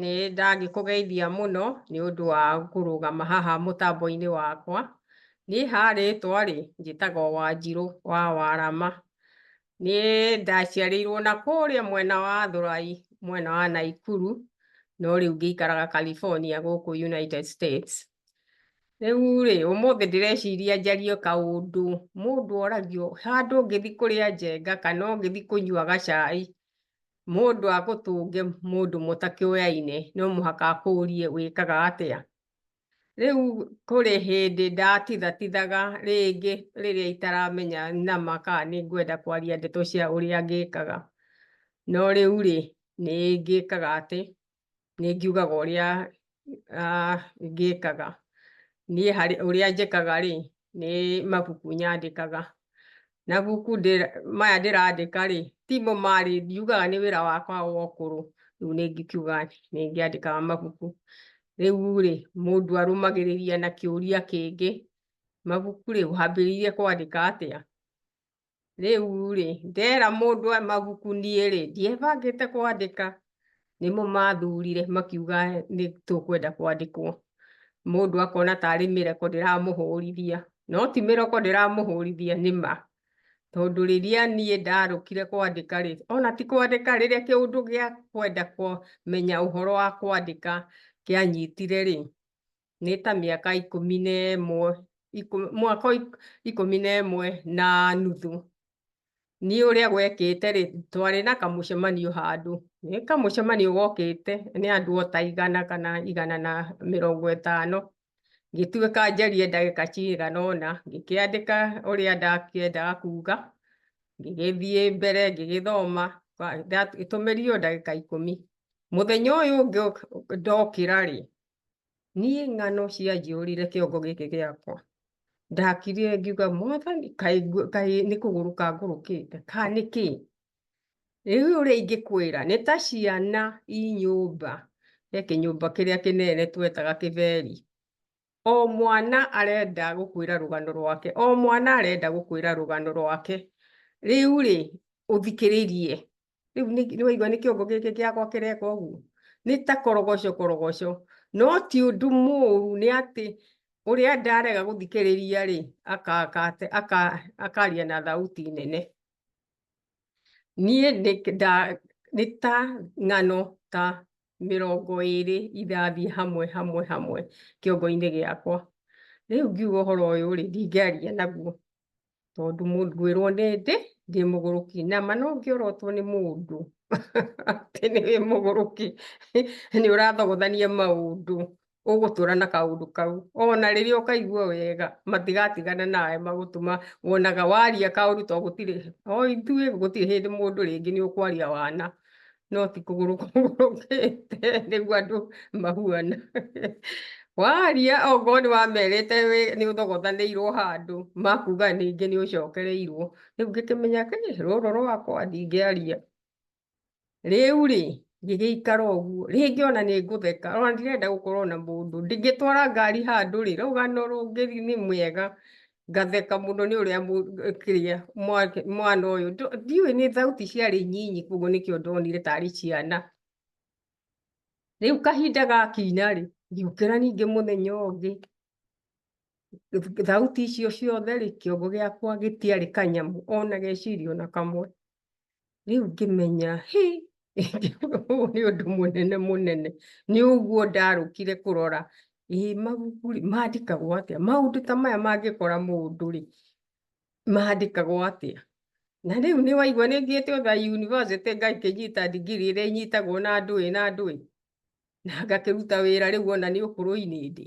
Nĩ ndangĩkũgeithia mũno nĩ ũndũ wa kũrũgama haha mũtambo-inĩ wakwa. Niĩ ha rĩtwa-rĩ, njĩtagwo Wanjirũ wa Warama. Niĩ ndaciarĩirwo na kũrĩa mwena wa Thũrai, mwena wa Naikuru, no rĩu ngĩikaraga California gũkũ United States. Rĩu rĩ, ũmũthĩ ndĩreciria njarie kaũndũ mũndũ oragio handũ ũngĩthi kũrĩa njenga kana ũngĩthi kũnyua gacai, mũndũ agũtũnge mũndũ mũtakĩũyaine no mũhaka akũrie wĩkaga atĩa. Rĩu kũrĩ hĩndĩ ndatithatithaga rĩngĩ rĩrĩa itaramenya nama kana nĩ ngwenda kwaria ndeto cia ũrĩa ngĩkaga. No rĩu rĩ, nĩ ngĩkaga atĩ, nĩ ngiugaga ũrĩa ngĩkaga niĩ harĩ ũrĩa njĩkaga rĩ nĩ mabuku nyandĩkaga na buku maya ndĩrandĩka rĩ timo marĩ ndiugaga nĩ wĩra wakwa wa ũkũrũ rĩu nĩ ngiuga nĩ ngĩandĩkaga mabuku rĩu rĩ mũndũ arũmagĩrĩria na kĩũria kĩngĩ mabuku rĩ wambĩrĩirie kwandĩka atĩa rĩu rĩ ndera mũndũ mabuku niĩ rĩ ndiebangĩte kwandĩka nĩmo mathurire makiuga nĩ tũkwenda kwandĩkwo mũndũ akona tarĩ mĩreko ndĩramũhũrithia no ti mĩreko ndĩramũhũrithia nĩ ma tondũ rĩrĩa niĩ ndarũkire kwandĩka rĩ ona ti kwandĩka rĩrĩa kĩũndũ gĩa kwenda kũmenya ũhoro wa kwandĩka kĩanyitire rĩ nĩ ta mĩaka ikũmi na ĩmwe mwaka ikũmi na ĩmwe na nuthu niĩ ũrĩa gwekĩte rĩ twarĩ na kamũcemanio handũ nĩ kamũcemanio gokĩte nĩ andũ o ta igana kana igana na mĩrongo ĩtano ngĩtuĩka njarie ndagĩka cigana ũna ngĩkĩandĩka ũrĩa ndakĩendaga kuga ngĩgĩthiĩ mbere ngĩgĩthoma itũmĩrio ndagĩka ikũmi mũthenya ũyũ ũngĩ ndokĩra rĩ niĩ ng'ano cianjĩũrire kĩongo gĩkĩ gĩakwa ndakirire ngiuga mwathani kaĩ nĩ kũgũrũka ngũrũkĩte ka nĩ kĩ rĩu ũrĩa ingĩkwĩra nĩ ta ciana i nyũmba he kĩnyũmba kĩrĩa kĩnene twetaga kĩberi o mwana arenda gũkwĩra rũgano rwake o mwana arenda gũkwĩra rũgano rwake rĩu rĩ ũthikĩrĩrie rĩu nĩ waigua nĩ kĩongo gĩkĩ gĩakwa kĩreka ũguo nĩ ta korogoco korogoco no ti ũndũ mũru nĩ atĩ ũrĩa ndarega gũthikĩrĩria rĩ akaria na thauti nene niĩ nĩ ta ng'ano ta mĩrongo ĩrĩ irathiĩ hamwe hamwe hamwe kĩongo-inĩ gĩakwa rĩu ngiuga ũhoro ũyũ rĩ ndingĩaria naguo tondũ ngwĩrwo nĩ ndĩ ndĩ mũgũrũki na ma no ngĩorotwo nĩ mũndũ atĩ nĩ wĩ mũgũrũki nĩ ũrathogothania maũndũ ũgũtũra na kaũndũ kau ona rĩrĩa ũkaigua wega matigatigana nawe magũtũma wonaga waria kaũndũ to gũtirĩ o ithuĩ gũtirĩ hĩndĩ mũndũ rĩngĩ nĩ ũkwaria wana no ti kũgũrũ kũgũrũkĩte nĩguo andũ mahuana waria okorwo nĩ wamerĩte nĩ ũthogothanĩirwo handũ makuga ningĩ nĩ ũcokereirwo rĩu ngĩkĩmenya rũrũ rwakwa ndingĩaria rĩu rĩ ngĩgĩikara ũguo rĩngĩ ona nĩ ngũtheka ona ndirenda gũkorwo na mũndũ ndingĩtwara ngari handũ rĩ rũgano rũngĩ nĩ mwega ngatheka muno ni uria kiria mwana uyu ndiwe ni thauti ciari nyinyi koguo nikio ndonire tari ciana riu kahinda gakinya ri ngiukira ningi muthenya ungi thauti icio ciothe ri kiongo giakwa gitiari kanyamu ona geciria ona kamwe rĩu ngĩmenya hĩ ũyũ nĩ ũndũ mũnene mũnene nĩ ũguo ndarũkire kũrora ĩ mabuku rĩ mandĩkagwo atĩa maũndũ ta maya mangĩkora mũndũ rĩ mandĩkagwo atĩa na rĩu nĩ waigua nĩ thiĩte otha yunivasĩtĩ ngakĩnyita ndigiri ĩrĩa inyitagwo na ndũĩ na ndũĩ na ngakĩruta wĩra rĩu ona nĩ ũkũrũ-inĩ ndĩ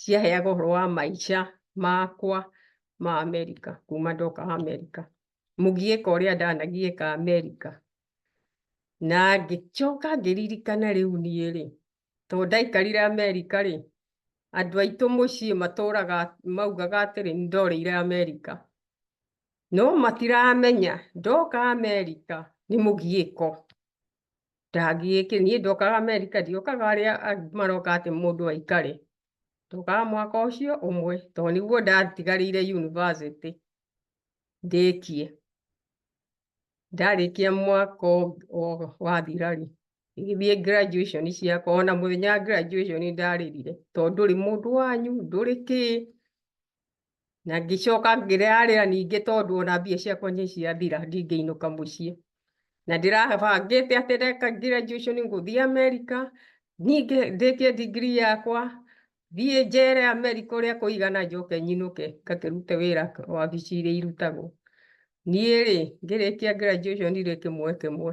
ciaheaga ũhoro wa maica makwa ma Amerika kuma ndoka Amerika mũgiĩka ũrĩa ndanagiĩka Amerika na ngĩcoka ngĩririkana rĩu niĩ rĩ tondũ ndaikarire Amerika rĩ andũ aitũ mũciĩ matũraga maugaga atĩrĩ nĩ ndorĩire Amerika no matiramenya ndoka Amerika nĩ mũgiĩko ndangĩĩke niĩ ndokaga Amerika ndiokaga arĩa maroka atĩ mũndũ aikare ndokaga mwaka ũcio ũmwe tondũ nĩguo ndatigarĩire yunivasĩtĩ ndĩkie ndarĩkia mwaka wathira rĩ igithiĩ graduation ciakwa ona mũthenya wa graduation ndarĩrire tondũ ndũrĩ mũndũ wanyu ndũrĩ kĩĩ na ngĩcoka ngĩrarĩra ningĩ tondũ ona mbia ciakwa nĩ ciathira ndingĩinũka mũciĩ na ndĩrabangĩte atĩ ndeka graduation ngũthiĩ Amerika ningĩ ndĩkie degree yakwa thiĩ njere Amerika ũrĩa kũigana njoke nyinũke ngakĩrute wĩra wabici iria irutagwo niĩ rĩ ngĩrĩkia graduation rĩ kĩmwe kĩmwe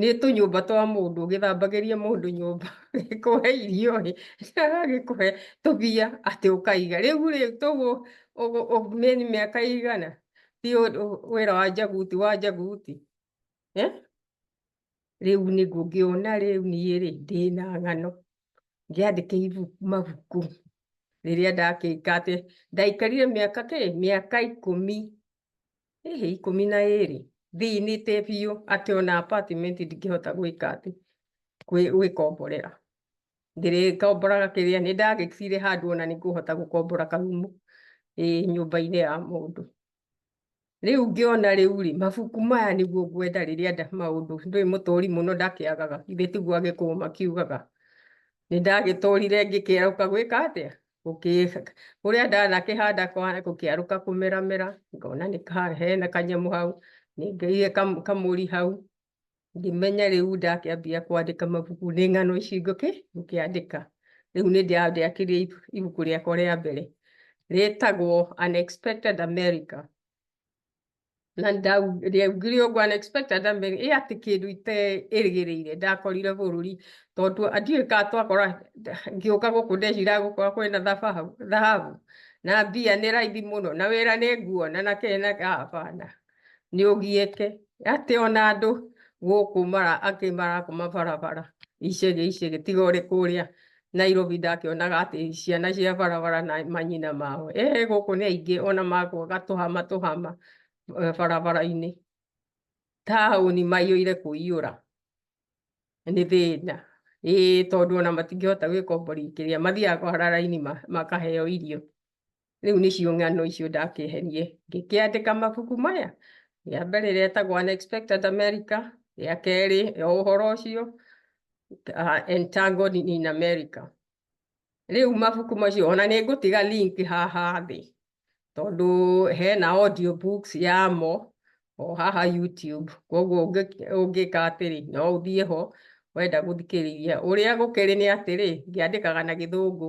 nĩ tũnyũmba twa mũndũ ũgĩthambagĩria mũndũ nyũmba gĩkũhe irio rĩ agagĩkũhe tũbia atĩ ũkaiga rĩu rĩ tũgũ ũmeni mĩaka igana ti wĩra wa njaguti wa njaguti eh? rĩu nĩ ngũngĩona rĩu niĩ rĩ ndĩna ng'ano ngĩandĩke mabuku rĩrĩa ndakĩka atĩ ndaikarire mĩaka kĩ mĩaka ikũmi hihi ikũmi na ĩrĩ thiinĩte biũ atĩ ona apartment ndingĩhota gwĩka atĩ gwĩkomborera ndĩrĩkomboraga kĩrĩa nĩ ndagĩkire handũ ona nĩ ngũhota gũkombora karumu ĩ nyũmba-inĩ ya mũndũ rĩu ngĩona rĩu rĩ mabuku maya nĩguo ngwenda rĩrĩa nda maũndũ ndũĩ mũtũri mũno ndakĩagaga ithe tiguo agĩkũma kiugaga nĩ ndagĩtũrire ngĩkerũka gwĩka atĩa kũrĩa ndanakĩhanda gũkĩarũka kũmeramera ngona nĩ hena kanyamũ hau nĩngeire kamũri hau ngĩmenya rĩu ndakĩambia kwandĩka mabuku nĩ ng'ano ici ngũkĩ ngũkĩandĩka rĩu nĩ ndĩakĩrie ibuku rĩakwa rĩa mbere rĩtagwo Unexpected America. na ndiaugire ũguo unexpected ndamere ĩ atĩ kĩndũ iterĩgĩrĩire ndakorire bũrũri tondũ ndiũĩ ka twakora ngĩũka gũkũ ndecira gũkorwo kwĩna thababu thahabu na mbia nĩ raithi mũno na wĩra nĩ nguona na kena hapana nĩ ũgiĩke atĩ ona andũ gũkũ mara angĩ marakoma barabara icege icege tiga ũrĩ kũrĩa Nairobi ndakĩonaga atĩ ciana cia barabara na manyina mao ehe gũkũ nĩ aingĩ ona makwo gatũhama tũhama eh, barabara-inĩ taũni maiyũire kũiyũra nĩ thĩna ĩĩ tondũ ona matingĩhota gwĩkombori kĩrĩa mathiaga kwara raini ma- makaheo irio rĩu nĩcio ng'ano icio ndakĩherie ngĩkĩandĩka mabuku maya rĩa mbere rĩrĩa etagwo Unexpected America rĩa kerĩ ya ũhoro ũcio uh, Entangled in America rĩu mabuku macio ona nĩ ngũtiga link haha thĩ tondũ hena audio books yamo o haha YouTube koguo ũngĩka atĩrĩ no ũthiĩ ho wenda gũthikĩrĩria ũrĩa gũkĩrĩ nĩ atĩrĩ ngĩandĩkaga na gĩthũngũ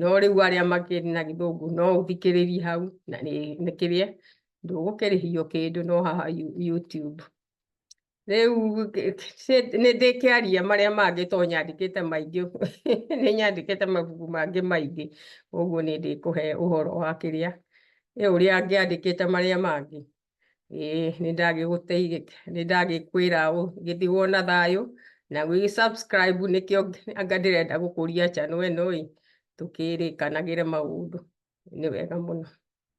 no rĩu arĩa makĩrĩ na gĩthũngũ no ũthikĩrĩrie hau na nĩ kĩrĩa ndũgũkĩrĩhio kĩndũ no haha YouTube rĩu nĩ ndĩkĩaria marĩa mangĩ to nyandĩkĩte maingĩ nĩ nyandĩkĩte mabuku mangĩ maingĩ ũguo nĩ ndĩkũhe ũhoro wa kĩrĩa ũrĩa ngĩandĩkĩte marĩa mangĩ ĩĩ nĩ ndagĩgũteithia nĩ ndagĩkwĩra gĩthi wona thayũ na gwĩ subscribe nĩkĩo anga ndĩrenda gũkũria channel ĩno ĩ tũkĩrĩkanagĩre maũndũ nĩ wega mũno